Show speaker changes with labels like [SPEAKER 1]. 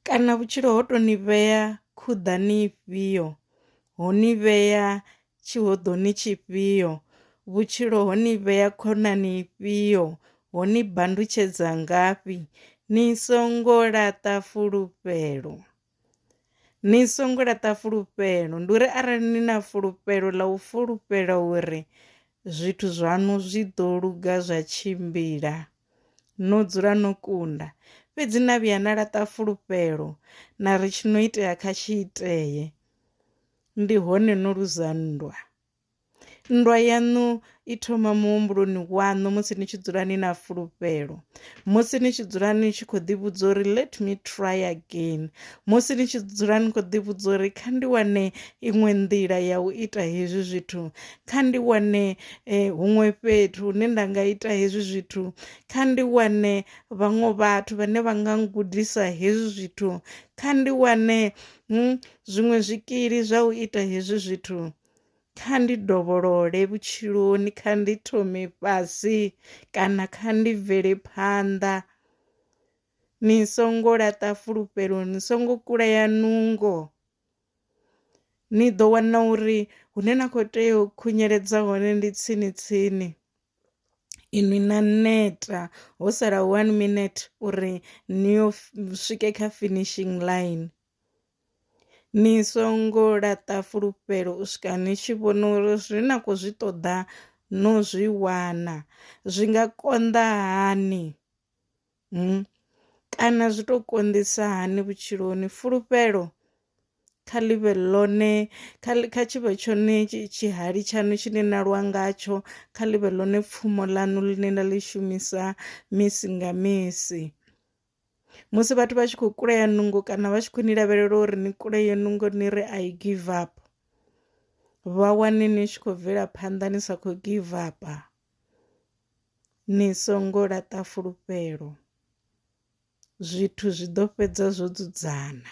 [SPEAKER 1] Kana vhutshilo ho to ni vhea khuḓani ifhio, ho ni vhea tshihoḓoni tshifhio, vhutshilo ho ni vhea khonani ifhio, ho ni bandutshedza ngafhi, ni songo laṱa fulufhelo, ni songo laṱa fulufhelo. Ndi uri arali ni na fulufhelo ḽa u fulufhela uri zwithu zwaṋu zwi ḓo luga zwa tshimbila. No dzula no kunda. Fhedzi na vhuya na laṱa fulufhelo na ri tshi no itea kha tshi itee. Ndi hone no luza nndwa. Nndwa yaṋu i thoma muhumbuloni waṋu musi ni tshi dzula ni na fulufhelo musi ni tshi dzula ni tshi kho ḓi vhudza uri let me try again musi ni tshi dzula ni kho ḓi vhudza uri kha ndi wane iṅwe nḓila ya u ita hezwi zwithu kha ndi wane huṅwe fhethu hune nda nga ita hezwi zwithu, kha ndi wane vhaṅwe vhathu vhane vha nga gudisa hezwi zwithu, kha ndi wane zwiṅwe zwikili zwa u ita hezwi zwithu, kha ndi dovholole vhutshiloni, kha ndi thome fhasi kana kha ndi bvele phanḓa. Ni songo laṱa fulufhelo ni songo kulea nungo. Ni ḓo wana uri hune na kho tea u khunyeledza hone ndi tsini tsini inwi na neta ho sala one minete uri ni yo swike kha finishing ḽaini. Ni songo laṱa fulufhelo u swika ni tshi vhona uri zwi na kho zwi ṱoḓa no zwi wana zwi nga konḓa hani. Kana zwi to konḓisa hani vhutshiloni fulufhelo kha ḽivhe ḽone kha kha tshivhe tshone tshihali tshaṋu tshine na lwa ngatsho kha ḽivhe ḽone pfumo ḽaṋu ḽine na ḽi shumisa misi nga misi. Musi vhathu vha tshi kho kulea nungo kana vha tshi khou ni lavhelela uri ni kulee nungo ni ri I give up vha wane ni tshi khou bvela phanḓa ni sa khou give up. Ni songo laṱa fulufhelo, zwithu zwi ḓo fhedza zwo dzudzana.